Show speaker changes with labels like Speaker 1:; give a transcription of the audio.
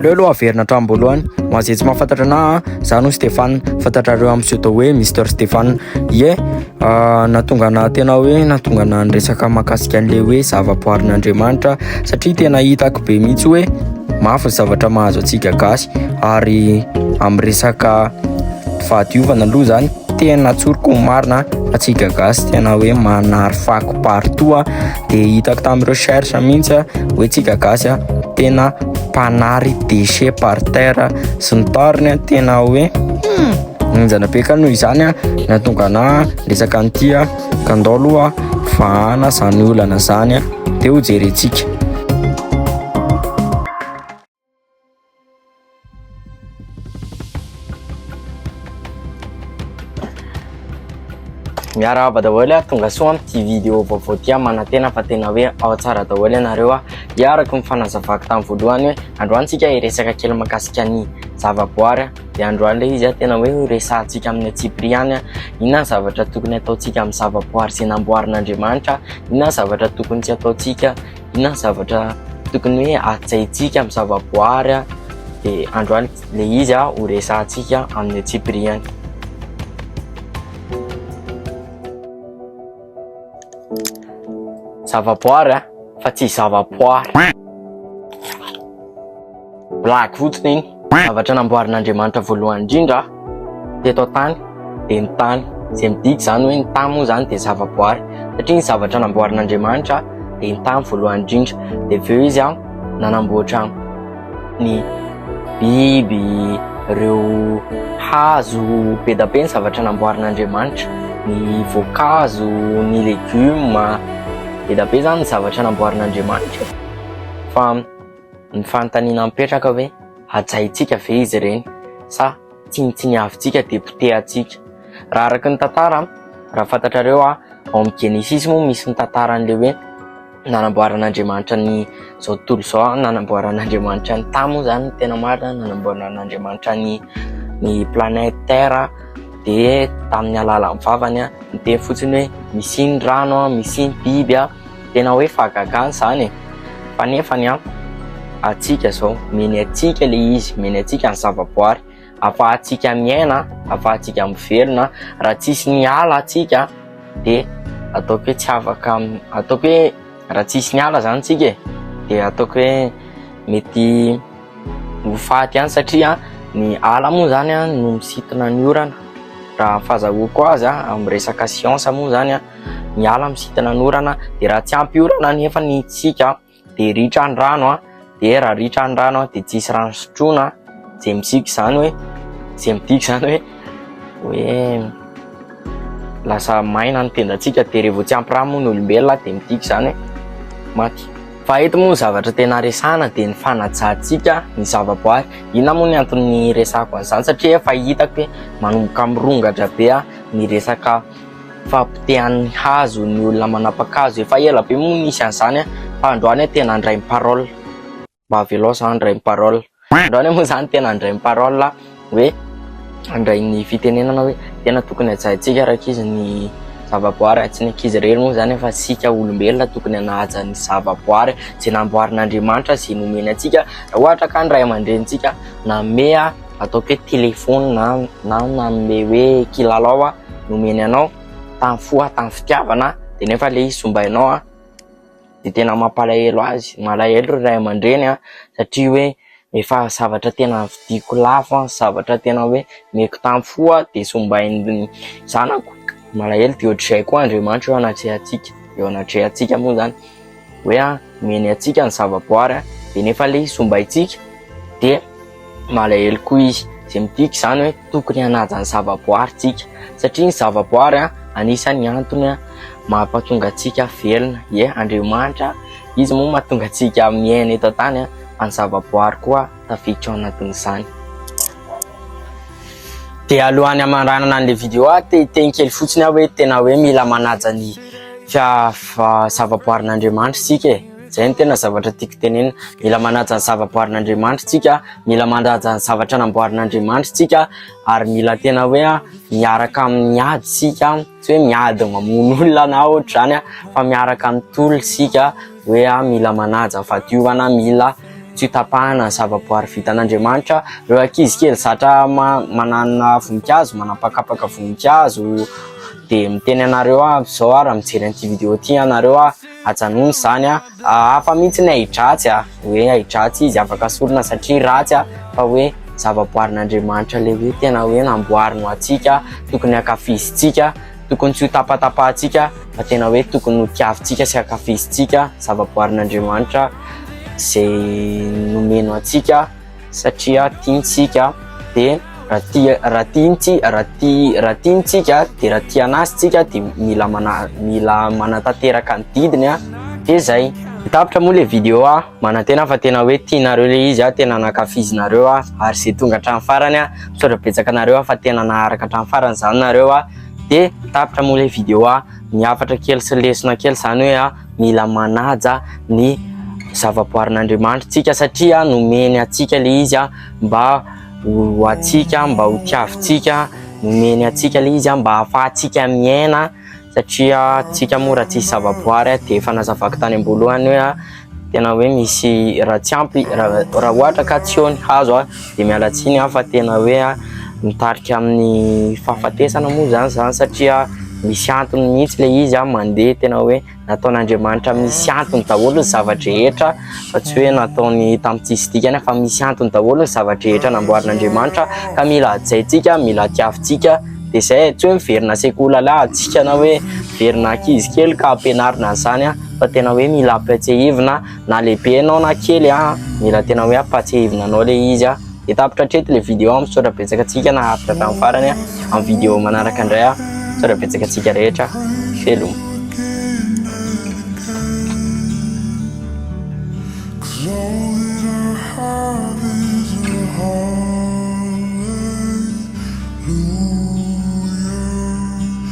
Speaker 1: Aleo aloha averina hatramin'boalohany ho an'izay tsy mahafantatra anahy a, za no Stéphane, fantatrareo amin'ny pseudo hoe Mister Stéphane, ie nahatonga anahy tena hoe nahatonga anahy niresaka mahakasika an'le hoe zava-boarin'Andriamanitra satria tena hitako be mihitsy hoe mafy ny zavatra mahazo antsika gasy ary amin'ny resaka fahadiovana aloha zany. Tena tsoriko ny marina fa tsy gagasy tena hoe manary fako partout dia hitako tamin'ny recherche mihitsy hoe tsy gagasy tena mpanary déchet par terre sy ny tariny tena hoe hmm, ninjana be ka noho izany na tonga na resaka an'ity ka ndao aloha fahana izany olana izany dia ho jerentsika Miarahaba daholo a, tonga soa amin'ity vidéo vaovao ity aho manantena fa tena hoe ao tsara daholo ianareo a. Dia araka ny fanazavako tamin'ny voalohany hoe androany tsika hiresaka kely mahakasika ny zavaboary a. Dia androany ilay izy a tena hoe horesahantsika amin'ny antsipiriany ihany a. Inona ny zavatra tokony hataontsika amin'ny zavaboary izay namboarin'Andriamanitra? Inona ny zavatra tokony tsy hataontsika? inona ny zavatra tokony hoe hajaintsika amin'ny zavaboary dia androany le izy aho ho resahantsika amin'ny antsipiriany zavaboary fa tsy zavaboary Blague fotsiny iny. Zavatra namboarin'Andriamanitra voalohany indrindra teto an-tany dia ny tany. Izay midika izany hoe ny tany moa izany dia zavaboary satria ny zavatra namboarin'Andriamanitra dia ny tany voalohany indrindra. Dia avy eo izy nanamboatra ny biby, ireo hazo be dia be ny zavatra namboarin'Andriamanitra, ny voankazo, ny legioma, be dia be izany ny zavatra namboarin'Andriamanitra e. Fa. Ny fanontaniana mipetraka hoe hajaintsika ve izy ireny sa tsinontsiniavintsika dia potehantsika? Raha araka ny tantara, raha fantatrareo ao amin'ny Genesisy moa misy ny tantaran'ilay hoe nanamboaran'Andriamanitra ny izao tontolo izao, nanamboaran'Andriamanitra ny tany moa izany ny tena marina, nanamboaran'Andriamanitra ny ny planète Terre dia tamin'ny alalan'ny vavany niteny fotsiny hoe misy ny rano, misy ny biby. Tena hoe fahagagana izany e! Fa nefa ny ampy antsika izao, omeny antsika ilay izy, omeny antsika ny zavaboary, afahantsika miaina, afahantsika mivelona. Raha tsisy ny ala antsika dia ataoko hoe tsy afaka, ataoko hoe raha tsisy ny ala izany tsika e! dia ataoko hoe mety ho faty ihany satria ny ala moa izany no misintona ny orana, raha ny fahazahoako azy amin'ny resaka siansa moa izany. ny ala misintona ny orana dia raha tsy ampy orana anefa ny tsika dia ritra ny rano dia raha ritra ny rano dia tsy hisy rano sotroina izay misika izany hoe izay midika izany hoe hoe lasa maina ny tendantsika dia rehefa tsy ampy rano moa ny olombelona dia midika izany hoe maty fa eto moa ny zavatra tena resahana dia ny fanajantsika ny zavaboary inona moa ny antony resahako an'izany satria efa hitako hoe manomboka mirongatra be ny resaka Fahapotehan'ny hazo ny olona manapa-kazo. Efa ela be moa nisy an'izany fa androany tena handray ny parole. Mba avelao izaho handray ny parole. Androany moa izany tena handray ny parole aho hoe handray ny fitenenana hoe tena tokony hajaintsika rankizy ny zavaboary ary tsy ny ankizy irery moa izany fa isika olombelona tokony hanaja ny zavaboary izay namboarin'Andriamanitra sy izay nomeny antsika raha ohatra ka ny ray aman-drenintsika nanome. ataoko hoe téléphone na na nanome hoe kilalao aho nomeny anao tamin'ny fo aho tamin'ny fitiavana dia nefa ilay izy sombainao aho dia tena mampalahelo azy malahelo ry ray aman-dreny aho satria hoe efa zavatra tena vidiko lafo aho zavatra tena hoe meko tamin'ny fo aho dia sombain'ny zanako malahelo dia ohatr'izay koa Andriamanitra eo anatrehantsika eo anatrehantsika moa izany hoe omeny antsika ny zavaboary dia nefa ilay izy sombaintsika dia malahelo koa izy, izay midika izany hoe tokony hanaja ny zavaboary isika satria ny zavaboary anisan'ny antony mampahatonga antsika velona, ie Andriamanitra izy moa mahatonga antsika miaina eto an-tany fa ny zavaboary koa. tafiditra ao anatin'izany. Dia alohan'ny hamandranana an'ilay vidéo aho te hiteny kely fotsiny aho hoe tena hoe mila manaja ny zavaboarin'Andriamanitra isika e. Izay no tena zavatra tiako tenenina, mila manaja ny zavaboarin'Andriamanitra isika, mila manaja ny zavatra namboarin'Andriamanitra isika ary mila tena hoe miaraka amin'ny ady isika, tsy hoe miady mamono olona na ohatr'izany fa miaraka amin'ny tolona isika. hoe aho mila manaja fahadiovana, mila tsy ho tapahana ny zavaboary vitan'Andriamanitra. Ireo ankizy kely zatra manana voninkazo, manapakapaka voninkazo dia miteny anareo avy izao ary mijery an'ity video ity ianareo aho, ajanony izany aho, hafa mihitsy ny ahi-dratsy a, hoe ahi-dratsy izy afaka sorona satria ratsy aho fa hoe zavaboarin'Andriamanitra ilay hoe tena hoe namboariny ho antsika, tokony hankafizintsika Tokony tsy ho tapatapahantsika fa tena hoe tokony ho tiavintsika sy ankafizintsika zavaboarin'Andriamanitra izay nomeny antsika satria tiantsika dia raha tia raha tiantsika raha tia raha tiantsika dia raha tia anazy tsika dia mila mana mila manatanteraka ny didiny a dia zay tapitra moa le vidéo a manantena fa tena hoe tianareo le izy a tena nankafizinareo a ary zay tonga hatramin'ny farany a Misaotra betsaka anareo aho fa tena naharaka hatramin'ny farany izany nareo aho dia tapitra moa ilay vidéo aho ny hafatra kely sy lesona kely izany hoe aho mila manaja ny zavaboarin'Andriamanitra tsika satria nomeny atsika le izy aho mba ho atsika mba ho tiavintsika nomeny atsika le izy aho mba hahafahantsika miaina satria tsika moa raha tsisy zavaboary aho dia efa nazavako tany am-boalohany hoe aho tena hoe misy raha tsy ampy raha ohatra ka tsy eo ny hazo aho dia miala tsiny aho fa tena hoe mitarika amin'ny fahafatesana moa izany izany satria misy antony mihitsy ilay izy aho mandeha tena hoe nataon'Andriamanitra misy antony daholo ny zava-drehetra fa tsy hoe nataony tamin-tsisy dikany fa misy antony daholo ny zava-drehetra namboarin'Andriamanitra ka mila hajaintsika mila hatiavintsika dia izay tsy hoe miverina sekoly lalà antsika na hoe miverina ankizy kely ka ampianarina an'izany aho fa tena hoe mila ampiatsehivina na lehibe ianao na kely an, mila tena hoe ampatsehivina anao ilay izy an, dia tapitra hatreto ilay vidéo, misaotra betsaka antsika naharitra hatramin'ny farany an, amin'ny vidéo manaraka indray an, misaotra betsaka antsika rehetra, veloma.